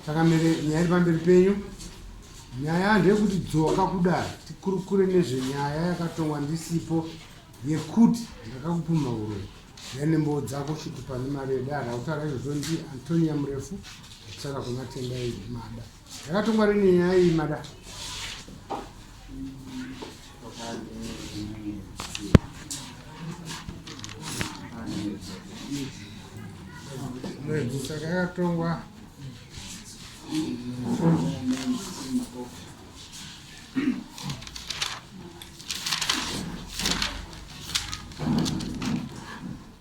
takamere nyaya iri pamberi penyu nyaya ndeyekuti dzoka kudai tikurukure nezvenyaya yakatongwa ndisipo yekuti ndakakupuma uroyi yanembo dzako shuti pane mari yedara autaura izvozvo ndi antonia murefu akusara kumatenda mada Yakatongwa rini nyaya iyi mada? Mwedzi saka yakatongwa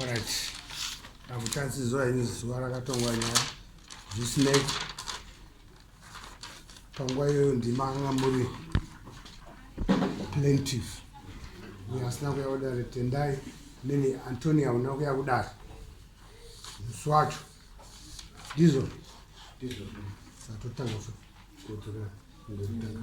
Alright. Akuchatsizwa ini zuva rakatongwa nyaya zvisinei panguva iyoyo ndima anga muri plaintive uye asina kuya kudare tendai mene antoni auna kuya kudare musi wacho ndizvo satotanga futi kudzoka ndotanga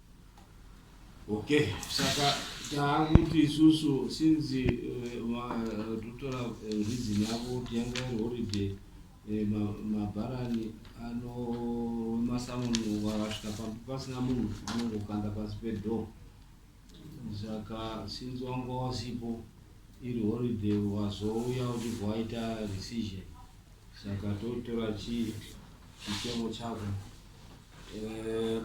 Okay, saka taakuti isusu since eh, vatotora eh, reason yavo kuti yanga iri holiday eh, ma- mabharani ano masamoni wakasvika pambi pasina munhu anongokanda pasi pedoor saka since wanga wasipo iri holiday wazouya uchibva waita decision saka totora chii chichemo chako Eh,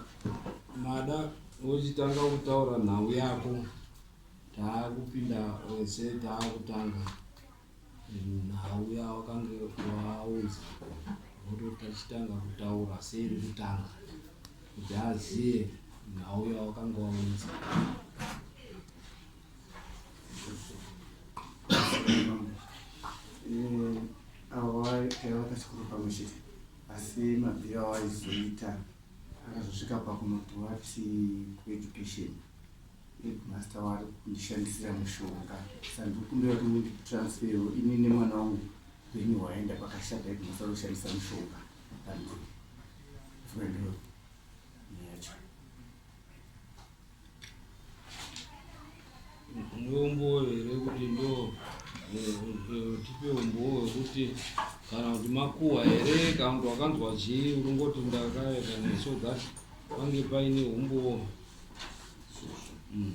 mada uchitanga kutaura nhau yako taakupinda wese taakutanga nhau yawakange waunza voto tachitanga kutaura seiri kutanga kuti aziye nhau yawakange waunza asi mabviro awaizoita akazosvika pakunoti wati kueducation headmaster wari kundishandisira mushonga sandikumbira kuti munditransfero ini nemwana wangu venyu hwaenda pakashata headmaster anoshandisa mushonga andoi ndiombowo here kuti ndo tipe umbowo wekuti kana kuti makuwa here kana kuti wakanzwa chii unongoti ndakaeka neso that pange paine umbowo mm.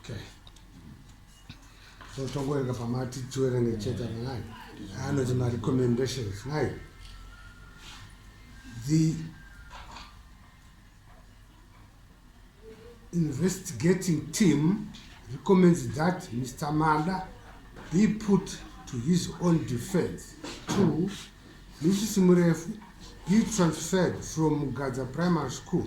Okay. So tokuereka pamati tiwerenge chete nai anoti marecommendations nai the investigating team recommends that Mr. Mada be put to his own defense. Two, Mrs. Murefu be transferred from Mugadza Primary School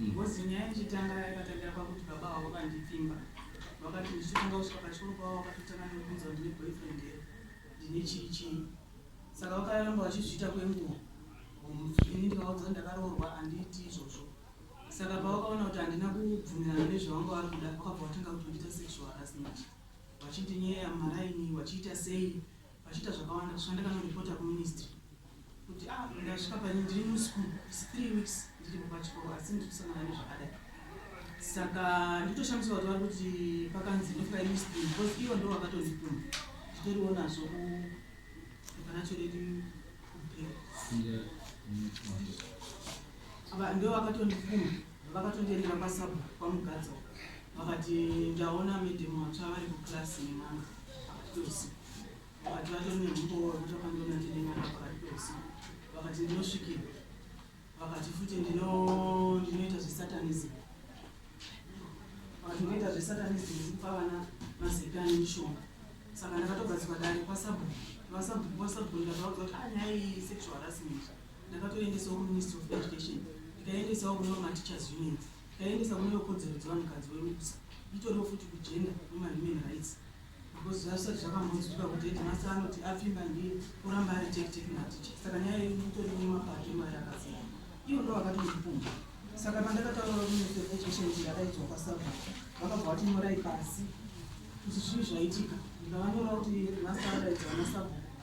Ngozi nyaya ichitanga yakatangira pakuti baba avo vandipfimba vakati ndichitanga kusvika pachikoro pavo vakatotanga nekubvunza kuti ndine boyfriend here ndine chii chii saka vakaramba vachizviita kwenguva ini ndikavaudza kuti ndakaroorwa handiiti izvozvo saka pavakaona kuti handina kubvumirana nezvavanga vari kuda vakabva vatanga kutondiita sexual harassment vachindinyeya mumaraini vachiita sei vachiita zvakawanda kusvika ndakanoreporta kuministry kuti ah ndasvika pane ndiri muschool is three weeks ndiripo pachikoro asi ndiri kusangana nezvakadai saka nditoshamisa kuti vari kuti pakanzi ndofika ministry because ivo ndo vakatondituma nditoriwo nazvo kuparacho redu kubhera ndo vakatondituma Vakatondiendera kwasabu kwamugadza uko vakati ndaona madam vatsva vari kuclass nemama pakati peusiku vakati vatori nemumbowo wekuti vakandiona ndine mwana pakati peusiku vakati ndinosvikira vakati futi ndino- ndinoita zvesatanism vakati ndinoita zvesatanism ndikupa vana mazepe ane mishonga saka ndakatogadzikwa dare kwasabu vasabu kwasabu ndakavaudza kuti anyaya iyi sexual harassment Ndakatoendesawo kuMinistry of Education, ndikaendesawo kune vamaTeachers Union, ndikaendesa kune vekodzero dzevanhukadzi weMUPSA, itoriwo futi kuGender Women Human Rights because zvazvisati zvakambonzwika kuti headmaster anoti apfimba ndiye oramba ari tekiteki maticha. Saka nyaya yedu itori nemapato emari akasiyana, ivo ndo vakatondipumba. Saka pandakataura kuMinistry of Education kuti ndakaidzwa kwaSabha, vakabva vati nyorai pasi kuti zvii zvaitika, ndikavanyorawo kuti headmaster adaidza vanasabha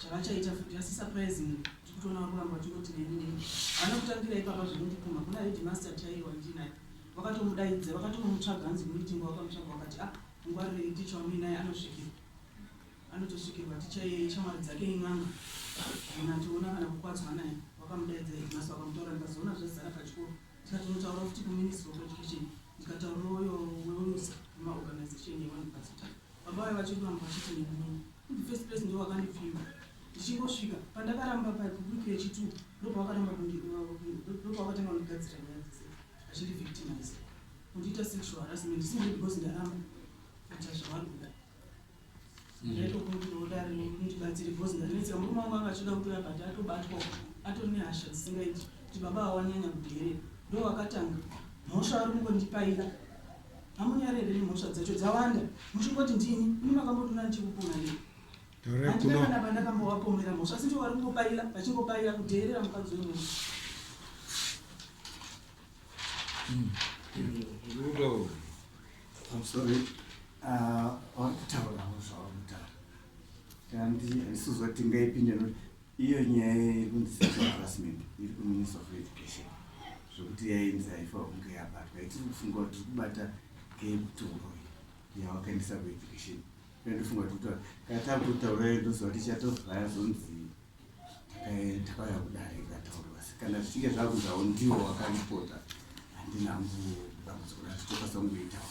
zvavachaita futi asi surprisingly tiri kutoona vari kuramba vachingoti neni neni havana kutangira ipapa zvinondipumha kuna headmaster chaiye wandinaye vakatomudaidza vakatonomutsvaga hanzi kumitingo vakamutsvaga vakati a ah, ngwarirei ticha wamuinaye anosvikirwa anotosvikirwa ticha iye shamwari dzake in'anga kana tiona kana kukwadzwa naye vakamudaidza headmaster vakamutora ndikazoona zvazara pachikoro tikatonotaura futi kuministry of education ndikataura uyo wemusa wemaorganization yevanhu vazita baba vaye vachiruramba vachiti neni Kuti first place ndiwo wakandipfima ndichingosvika pandakaramba paweek yechituku ndobva wakaramba ndobva wakatanga kundigadzira nyaya dzese achindi victimize kundiita sexual harassment simbe because ndaramba kuita zvavari kuda ndaitokuudare ndibatsire because ndanetseka murume wangu anga achida kutora but atobatwa atori nehasha dzisingaiti kuti baba awanyanya kuderera ndowakatanga mhosva ari kungondipaira Hamunyare here nemhosva dzacho dzawanda muchingoti ndini ini makambotoona ndichikupona nei? Handina kana pandakambovapomera mhosva asi ndivo vari kungopaila vachingopaila kudheerera mukadzi wemunhu. Rudo. I'm sorry. Uh, vari kutaurawo zvavamutaura. Kandi handisi kuzoti ngaipinde Iyo nyaya yekunzi harassment iri kuminister of education zvekuti yainzi haifa kunge yabatwa itiri kufunga kuti tiri kubata kemutoro yawakaendesa kueducation ndofunga kuti kutaura kana takutotaura ndoziva kuti chatovhaya zonzi takauya kudare ikataurwa asi kana zvichinge zvakunzawo ndiwo wakaripota handina mudambudziko racho tokasa kungoitawa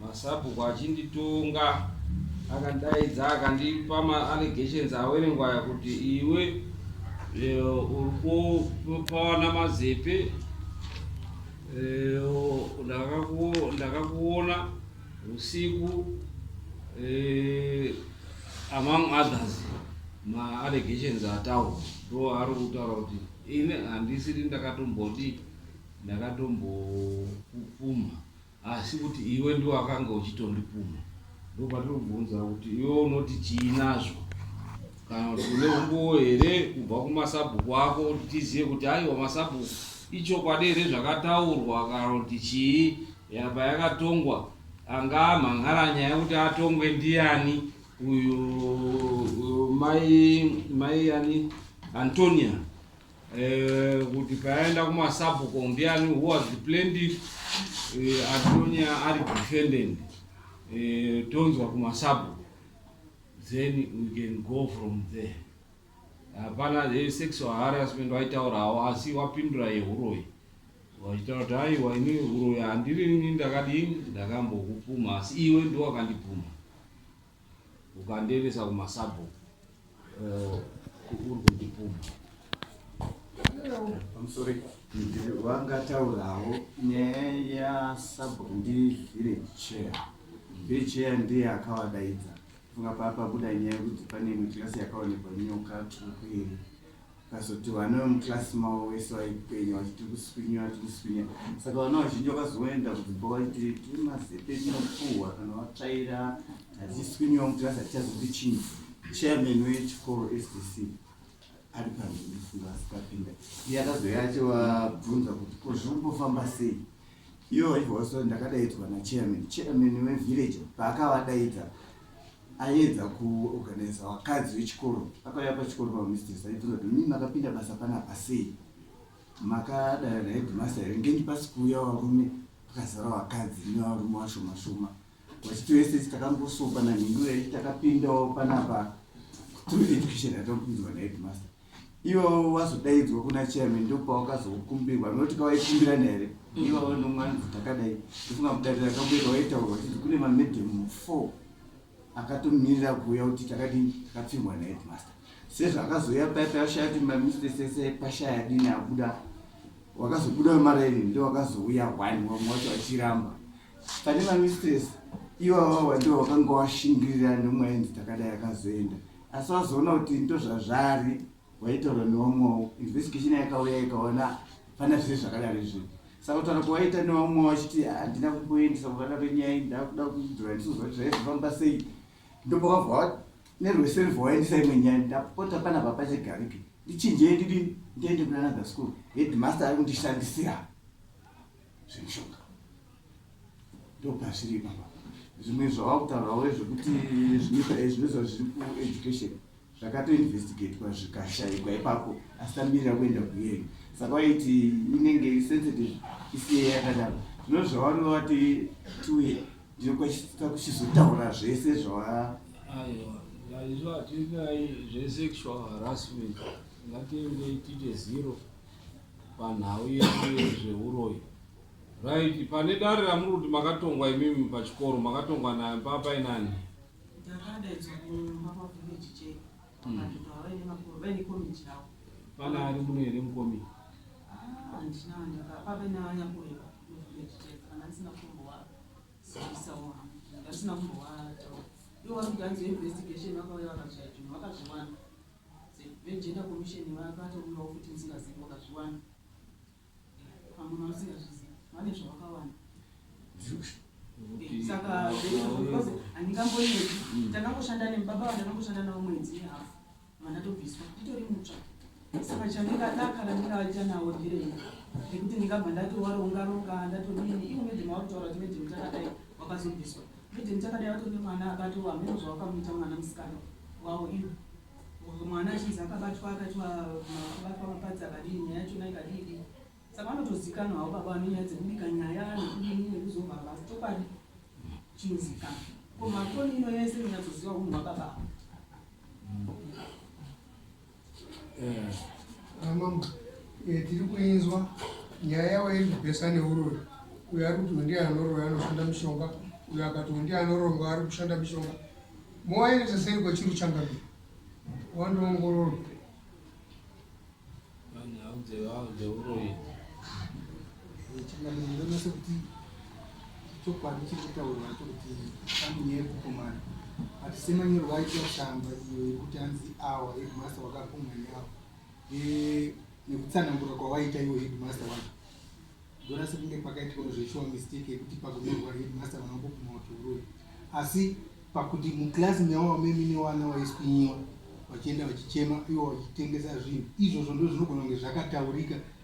Masabhuku achinditonga akandaidza akandipa maallegations awerengwaya kuti iwe eh, uri kupawana mazepe eh, ndakakuona usiku eh, among others maallegations ataurwa ndo ari kutaura kuti ini handisiri ndakatombodi ndakatombokupfuma Asi kuti iwe ndiwe wakanga uchitondipumha ndopatiri kubvunza kuti iwe unoti chii nazvo kana kuti une umbowo here kubva kumasabhuku ako kuti tizive kuti aiwa masabhuku ichokwadi here zvakataurwa kana kuti chii yapa yakatongwa anga amhan'ara nyaya kuti atongwe ndiani uyu mai mai ani antonia Eh, kuti paenda kumasabhuko ndiani who was the plaintiff eh, atonya ari defendant eh, tonzwa kumasabhuko then we can go from there hapana eh, sexual harassment waitaurawo asi wapindura yehuroyi wachitaura kuti aiwa ini huroyi handirini ndakadini ndakambokupuma asi iwe ndiwakandipuma ukandiendesa kumasabhu eh, uri kundipuma vangataurawo nyaya yasabhu ndivhire chair vhire chair ndiye akavadaidza funga paapabuda nyaya yekuti pane imwe kirasi yakaonekwa nyoka tsvuku iri Vakazoti vana vemuclass mavo vese vaipenya vachiti tiri kuswinyira tiri kuswinyira saka vana vazhinji vakazoenda kudzimba vachiti tiri mazepe tinopuhwa kana vatsvaira hatiswinyiwa muclass hatichazondi chinzi chairman wechikoro sdc ari pamhirifunga asikapinda iye akazouya achivabvunza kuti ko zviri kumbofamba sei ivo vaibva vaso ndakadaidzwa nachairman chairman wevillage paakavadaidza aiedza ku organizer vakadzi vechikoro akauya pachikoro pa mistress aibvunza kuti mimi makapinda basa panapa sei makadana na headmaster here ngenyi pasi kuuya varume pakazara vakadzi nevarume vashoma shoma vachiti vese takangosopa na nhingurei takapindawo panapa through education yatakupinzwa na headmaster Iwewe wazodaidzwa kuna chairman ndopawakazokumbirwa noti kawaikumbirana here mm. iwewe nomwana takadai ndofunga mudarira kamboita waitaurwa chiti kune mamedhemu four akatomirira kuuya kuti takadii takapfimwa naheadmaster sezvakazoya paya payashaya kuti mamistress ese pashaya dini abuda wakazobuda wemaraini ndo wakazouya one wamwe wacho achiramba pane mamistress iwawawa ndo wakanga washingirira nomwaenzi takadai akazoenda asi wazoona kuti ndozvazvari waitaura newamwawo investigation yakauya ikaona pana zviri zvakadaro izvi saka kutaura kwawaita newamwawo achiti handina kukuendesa kuvana venyaya ndakuda kudhura ndisozva kuti zvaizofamba sei ndopakabva nerweself waendesa imwe nyaya ndapota pana papachegarike ndichinjei ndidi ndiende kunanadha school headmaster ari kundishandisira zvemishonga ndopazviri ipapa zvimwe zvavakutaurawo zvekuti zvinoita zviri kueducation zvakatoinvestigatwa zvikashaikwa ipapo asi tamirira kuenda kuhearing saka waiti inenge sensitive isiye yakadaro zvino zvavanova vati tiwe ndinokwasisa kuchizotaura zvese zvava izvo hatinyai zvesexual harassment ngatiendei tiite zero panhau yedu yezvehuroyi right pane dare ramuri kuti makatongwa imimi pachikoro makatongwa nayo papa inani pana ari muno here mukomiti vegender commission vakatouyawo futi musingazivi vakazviwana pamwe vamusingazvizivi vane zvavakawana eh, saka because handingambonyepi mm. tanangoshanda nemubaba vandanangoshanda navo mwedzi yehafu vandatobviswa nditori mutsva saka chandingadaka randingavaita nawo ndirei nekuti ndingabva ndatowarongaronga ndatodini ivo medhema vakutaura kuti medhema takadai wakazobviswa Bridget takadai vato nemwana akato hameno zvawakamuita mwana musikana wawo iwe mwana achinzi akabatwa akaitwa kubatwa mapadzi akadii nyaya yachona ikadii dii saka vanotozikanwa havo baba vane nyaya dzekubika nyaya nekudini nekuzova vasi chokwadi chinozikana ko makoni ino yese inonyatsoziva unhu wababa avo Amam eh, tiri kuinzwa nyaya yavo iri kubhesa neuroi uyo ari kuti ndiye anoroya anoshanda mishonga uyo akati ndiye anoronga ari kushanda mishonga mowaenesa sei kwachiri uchangamira wandoongororwa vanhu haudzeuroyi chokwadi chiri kutaurwa cho kuti famili yekukomana but semanyero vaita shamba iyo yekuti hanzi awa hedmasta wakakumwa neawa nekutsanangura kwavaita iwo hedmasta wacho ndona sekunge pakaitwa zveshuwa mistake yekuti pakunyorwa hedmasta vanangokuma utouroi asi pakuti muklasi mewawa memine wana waiswinyiwa vachienda vachichema iwo vachitengesa zvinhu izvozvo ndo zvinogona kunge zvakataurika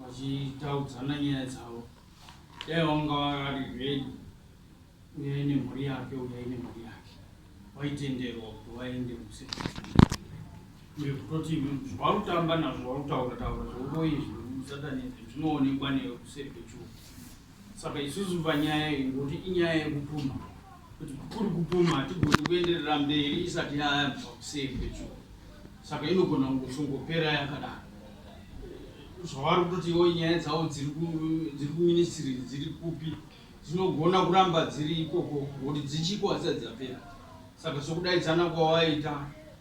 vachitaudzana nyaya dzavo dai wanga ari ready uyai nemhuri yake uyai nemhuri yake waitenderwa kuti waende musekutoti zvautamba nazvo wautaura taura zvokoizvi usatanezvi zvinoonekwa newe kuseri kwechuo Saka isusu panyaya iyi ngoti inyaya yekupuma kuti kuri kupuma hatigoni kuenderera mberi isati yayambiswa kuseri pecho saka inogona kungosongopera yakadaro zvavari kutotiwo nyaya dzavo dziri kuministry dziri kupi dzinogona kuramba dziri ikoko ngoti dzichiko hadzisati dzapera Saka sokudaidzana kwawaita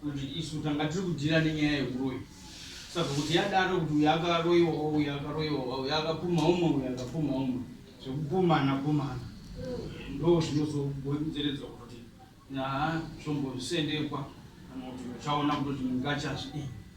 kuti isu tanga tiri kudhira nenyaya yeuroyi saka kuti yadaro kuti uyu akaroiwa uyu akaroiwa uyu akapuma umwe uyu akapuma umwe zvekupumana pumana ndo zvinozogonzeredzwa kuti nyaa zvombosendekwa kana kuti uchaona kutoti mungachazvi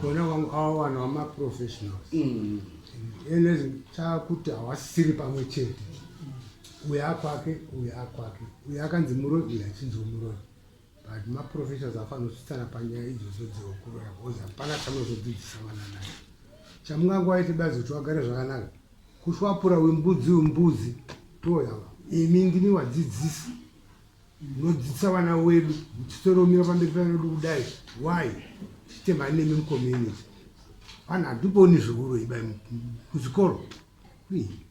Kona wangu awa wanhu wama professionals. Mm. Enes chakuti hawasiri pamwe chete. Uya akwake, uya akwake. Uya akanzi muroi, uya achinzi muroi. But ma professionals afanotsutsana panyaya idzodzo dzeokuroya because hapana chanozodzidzisa vana naye. Chamungangoaite bazi kuti wagare zvakanaka. Kushwapura wembudzi wembudzi toya. Imi ndimi wadzidzisi. Munodzidzisa vana wedu muchitoromira pamberi pevana vedu kudai why tichitema nemi mucommunity vanhu hatiboni zvikuru ibai kuzvikoro please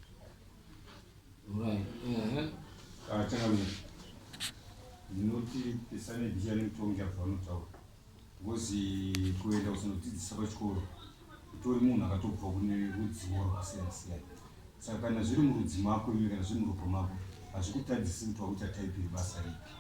Right. Uh-huh. Ah, changamire. Ndinoti pesane bhiya nemutongi apa vanotaura. Ngozi kuenda kuzonodzidzisa pachikoro utori munhu akatobva kune rudzivo rwakasiyana siyana saka kana zviri murudzi mako iwe kana zviri muropa mako hazvikutadzisi kuti wakuita type rebasa ripi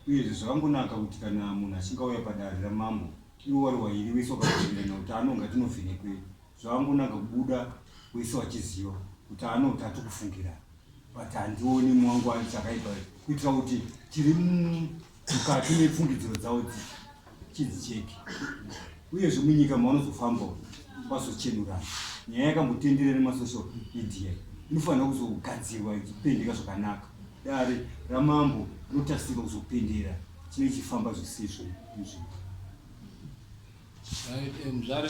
uyezve zvakangonaka kuti kana munhu achinge auya padare ramambo iwe wari wairi wese wakakuenderana kuti anonga tinovhenekwei zvakangonaka kubuda wese wachiziva kuti anoti atikufungira but handioni mwangu achakaipa kuitira kuti tiri mukati mepfungidziro dzavo dzi chidzicheke uyezve munyika mavanozofambawo vazochenurana nyaya yakambotenderera nemasocial media inofanira kuzogadzirwa ichipendeka zvakanaka dare ramambo rinotarisirwa kuzopendera chinenge chifamba zvisizvo izvi mzvare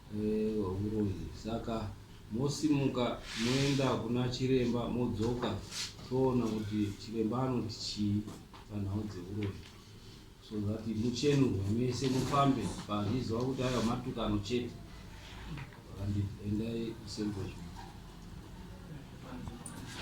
hwehuroyi saka mosimuka moenda kuna chiremba modzoka toona kuti chiremba anoti chii panhau dzehuroyi so that muchenurwe mese mufambe paziziva kuti aiwa matukano chete and endai kusembochii